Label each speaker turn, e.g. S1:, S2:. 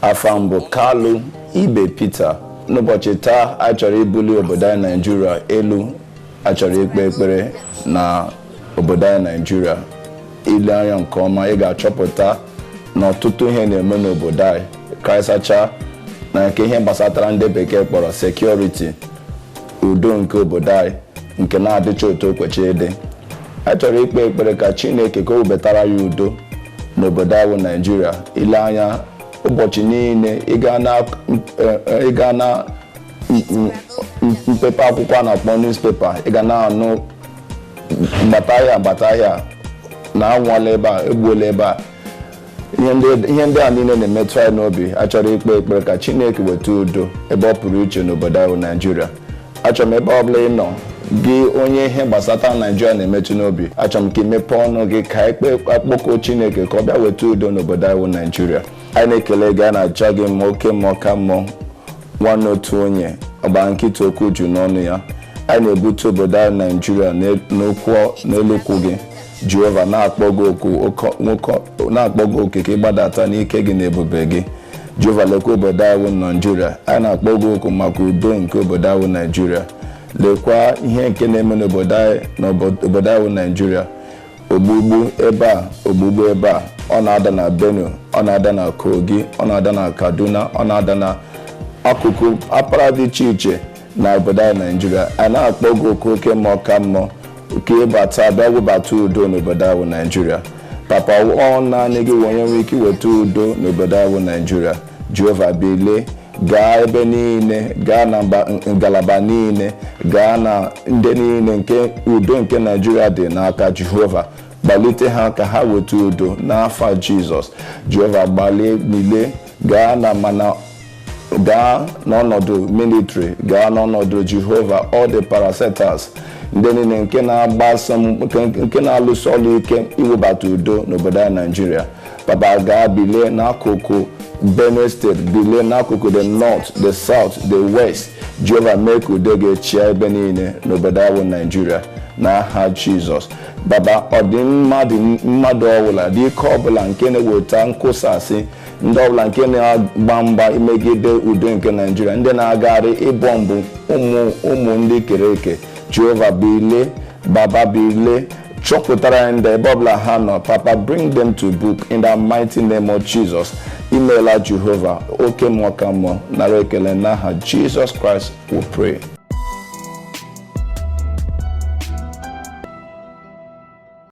S1: afa m bụ kalu ibe peter n'ụbọchị taa anyị chọrọ ibuli obodo anyị naijiria elu a chọrọ ikpe ekpere na obodo anyị naijiria i lee anya nke ọma ị ga-achọpụta na ọtụtụ ihe na-eme n'obodo anyị karịsacha na nke ihe gbasatara ndị bekee kpọrọ sekuriti udo nke obodo anyị nke na-adịcha otu o kwechị ịdị a chọrọ ikpe ekpere ka chineke ka o webatara ya udo n'obodo a wụ naijiria i lee anya ụbọchị niile ị gaa na eh, eh, ị gaa na m- m- m- mpepe akwụkwọ a na-akpọ newspaper ị ga na-anụ gbata ahịa gbata ahịa na anwụọla ebe a egbuola ebe a ihe ndị- ihe ndị a niile na-emetụ anyị n'obi achọrọ ikpe ekpere ka chineke weta udo ebe ọ pụrụ iche n'obodo a wụ naijiria achọrọ m ebe ọbụla ị nọ gị onye ihe gbasata naijiria na-emetụ n'obi achọrọ m ka i mepe ọnụ gị ka a kpọkuo chineke ka ọ bịa weta udo n'obodo a wụ naijiria anyị na-ekele gị a na-aja gị mma oke mmụọ ka mmụọ nwanne otu onye ọgba nkịta okwu ju n'ọnụ ya anyị na-ebute obodo a wụ naijiria n'elu ụkwụ gị jehova na-akpọ gị oku ka ị gbadata n'ike gị na ebube gị jehova lekwa obodo anyị wụ naijiria anyị na-akpọ gị oku maka udo nke obodo anyị wụ naijiria lekwa ihe nke na-eme n'obodo anyị na obo- obodo anyị wụ naijiria ogbugbu ebe a ogbugbu ebe a ọ na-ada na benue ọ na-ada na kogi ọ na-ada na kaduna ọ na-ada na akụkụ mpaghara dị iche iche na obodo anyị naijiria a na-akpọ gị oku oke mmụọ ka mmụọ ka ị bata bịa webata udo n'obodo a wụ naijiria papa ọ naanị gị wụ onye nwee ike iweta udo n'obodo a wụ naijiria jehova bilie gaa ebe niile gaa na mba- ngalaba niile gaa na ndị niile nke udo nke naijiria dị n'aka jehova kpalite ha ka ha weta udo n'afa jizọs jehova gbalie niile gaa na mana gaa n'ọnọdụ militri gaa n'ọnọdụ jehova all the parastatals ndị niile nke na-alụsi ọlụ ike iwebata udo n'obodo anyị naijiria papa gaa bilie n'akụkụ benue steeti bilie n'akụkụ the north the south the west jehova mee ka udo gị chịa ebe niile n'obodo anyị bụ naijiria n'aha jizọs baba ụdị mmadụ ọbụla ụdị ike ọbụla nke na-eweta nkụsasị ndị ọbụla nke na-agba mgba imegide udo nke naijiria ndị na-agagharị ịbọmbụ ụmụ ụmụ ndị i kere eke jehova bilie baba bilie chọpụtara ya ndị ebe ọbụla ha nọ papa bring them to book in the mighty name of jesus imeela jehova oke mmụọ ka mmụọ nara ekele n'aha jesus christ we pray